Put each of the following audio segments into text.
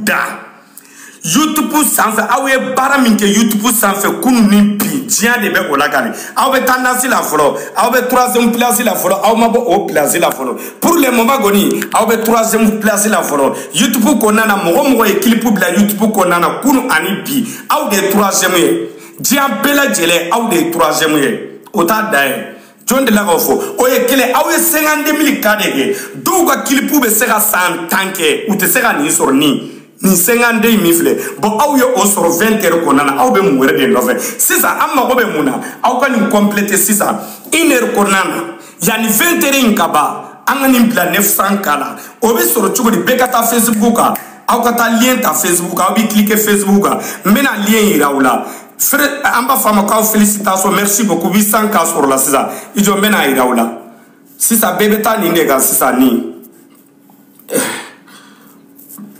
da youtube sanfɛ aw ye baara min kɛ youtube sanfɛ kunu ni bi diɲɛ de bɛ o lakali aw bɛ tendance la fɔlɔ aw bɛ troisième place la fɔlɔ aw ma bɔ o place la fɔlɔ pour le moment kɔni aw bɛ troisième place la fɔlɔ youtube kɔnɔna na mɔgɔ o mɔgɔ ye clip bila youtube kɔnɔna na kunu ani bi aw de ye troisième ye diɲɛ bɛɛ lajɛlen aw de ye troisième ye o t'a dan ye. jɔn delila k'o fɔ o ye kelen aw ye cinquante mille k de kɛ dɔw ka clip bɛ se ka san tan kɛ u tɛ se ka nin sɔrɔ nin nin cinquante in min filɛ bɔn aw ye o sɔrɔ 20 heures kɔnɔna na aw bɛ mun wɛrɛ de nɔfɛ sisan an mago bɛ mun na aw ka nin compléter sisan une heure kɔnɔna na yanni 20 heures in ka ban an ka nin bila 900 k la o bɛ sɔrɔ cogo di bɛɛ ka taa facebook kan aw ka taa lien ta facebook kan aw bɛ cliquer facebook kan n bɛna lien yira aw la fere an b'a fɔ a ma k'aw félicitation merci beaucoup 800 k sɔrɔla sisan i jɔ n bɛna a yira aw la sisan bɛɛ bɛ taa nin de kan sisan nin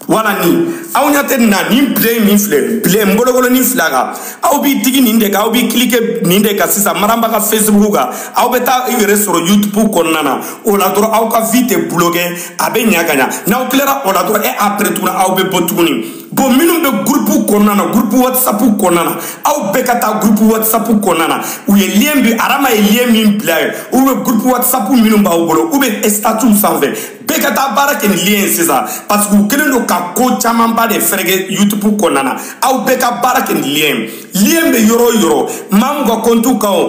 voilà nin aw ɲɛ tɛ nin na nin bilen min filɛ bilen n bolokɔnin filɛ a kan aw b'i digi nin de kan aw b'i cliquer nin de kan sisan maramba ka facebook kan aw bɛ taa i yɛrɛ sɔrɔ youtube kɔnɔna na o la dɔrɔn aw ka vue tɛ bloquer a bɛ ɲa ka ɲa n'aw tilara o la dɔrɔn et après tuguni aw bɛ bɔ tuguni bon minnu bɛ gurupu kɔnɔna na gurupu whatsapp kɔnɔna na aw bɛɛ ka taa gurupu whatsapp kɔnɔna na u ye lien bi arama ye lien min bila yen ou bien gurupu whatsapp minnu b'aw bolo ou bien statut sanfɛ bɛɛ ka taa baara kɛ ni lien ye sisan parce que u kɛlen don ka ko camanba de fereke youtube kɔnɔna na aw bɛɛ ka baara kɛ ni lien ye lien bɛ yɔrɔ o yɔrɔ maa min ka compte kan wo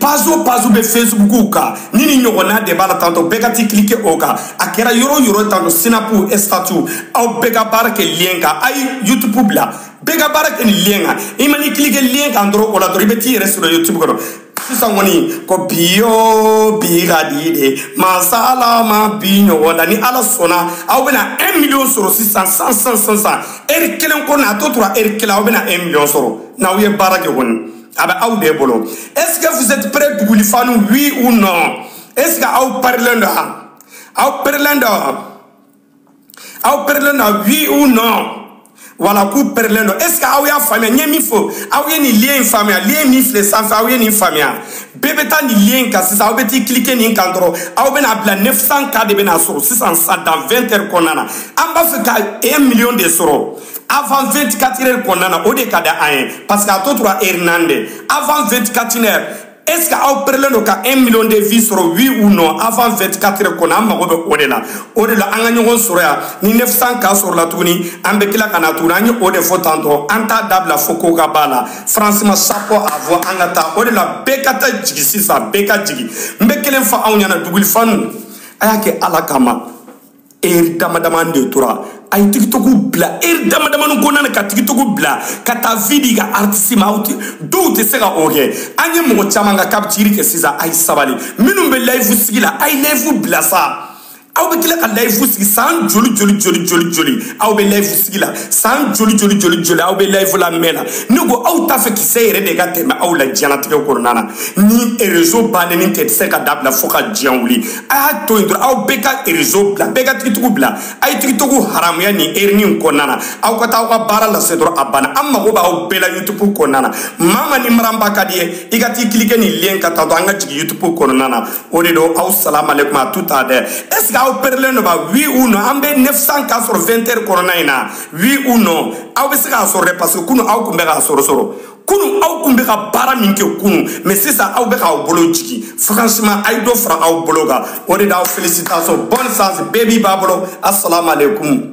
page o page bɛ facebook kan ni nin ɲɔgɔnna de b'a la tantɔ bɛɛ ka t'i cliquer o kan a kɛra yɔrɔ o yɔrɔ tantɔ snap statut aw bɛɛ ka baara kɛ lien kan a ye youtube bila bɛɛ ka baara kɛ nin lien kan i man'i cliquer lien kan dɔrɔn o la dɔrɔn i bɛ t'i yɛrɛ sɔrɔ youtube kɔnɔ sisan kɔni ko bi yo bi ka di dɛ mansa ala ma bi ɲɔgɔn da ni ala sɔnna aw bɛna un million sɔrɔ sisan san san san san heure kelen kɔnɔna a tɔ tora heure kelen aw bɛna un million sɔrɔ n'aw ye baara kɛ kɔni a bɛ aw de bolo est ce que vous êtes prêts duguli fanu oui ou non est ce que aw parilen don wa aw parilen don wa aw pɛrɛlen don oui ou non voilà k'u pɛrɛlen don est ce que aw y'a faamuya n ye min fɔ aw ye nin lien in faamuya lien min filɛ sanfɛ aw ye nin faamuya bɛɛ bɛ taa nin lien kan sisan aw bɛ t'i cliquer nin kan dɔrɔn aw bɛna bila 900 k de bɛna sɔrɔ sisan sa dans 20 heures kɔnɔna na an b'a fɛ ka 1 million de sɔrɔ avant 24 heures kɔnɔna na o de ka di an ye parce que a tɔ tora heure naani de avant 24 heures est ce que aw pɛrɛlen don ka 1 million de vues sɔrɔ oui ou non avant 24 heures kɔnɔ an mago bɛ o de la o de la an ka ɲɔgɔn sɔrɔ yan ni 900 k sɔrɔla tuguni an bɛ tila ka na tuguni an ye o de fɔ tantɔ an t'a dabila fo ko ka b'a la franchement chapeau à vous an ka taa o de la bɛɛ ka taa jigi sisan bɛɛ ka jigi n bɛ kelen fɔ aw ɲɛna duguli fanu a y'a kɛ ala kama eri dama damani de tora a ye tigitogo bila eri dama damani kɔnɔna na ka tigitogo bila ka taa vue di ka artisi ma aw tɛ dɔw tɛ se ka o kɛ an ye mɔgɔ caman ka k'a bɛ ciri kɛ sisan a ye sabali minnu bɛ layifu sigi la a ye layifu bila sa aw bɛ tila ka layifu sigi san joli joli joli joli joli aw bɛ layifu sigi la san joli joli joli joli aw bɛ layifu la mɛn la ne ko aw t'a fɛ kisɛ yɛrɛ de ka tɛmɛ aw la diɲɛlatigɛ kɔnɔna na ni erezo bannen tɛ tɛ se ka dabila fo ka diɲɛ wuli a y'a to yen dɔrɔn aw bɛɛ ka rezo bila bɛɛ ka tigitogo bila a ye tigitogo haramuya nin erini in kɔnɔna na aw ka taa aw ka baara lase dɔrɔn a banna an mago b'aw bɛɛ la yutubu kɔnɔna na maa ma ni mariam ba ka d'i ye i ka t'i kilike nin lien ka taa dɔn an ka jigin yutubu kɔnɔna na o de don aw salamalekum a tu t'a dɛ est ce que aw perelen don ba oui ou non an bɛ 900 k sɔrɔ 20 heures kɔnɔna in na oui ou non aw bɛ se k'a sɔrɔ dɛ parce que kunu aw tun bɛ k'a sɔrɔ sɔrɔ kunu aw kun bɛ ka baara min kɛ kunu mais sisan aw bɛ k'aw bolo jigin franchement a ye dɔ fara aw bolo kan o de la aw félicitation bonne chance bɛɛ b'i ba bolo asalaamaaleykum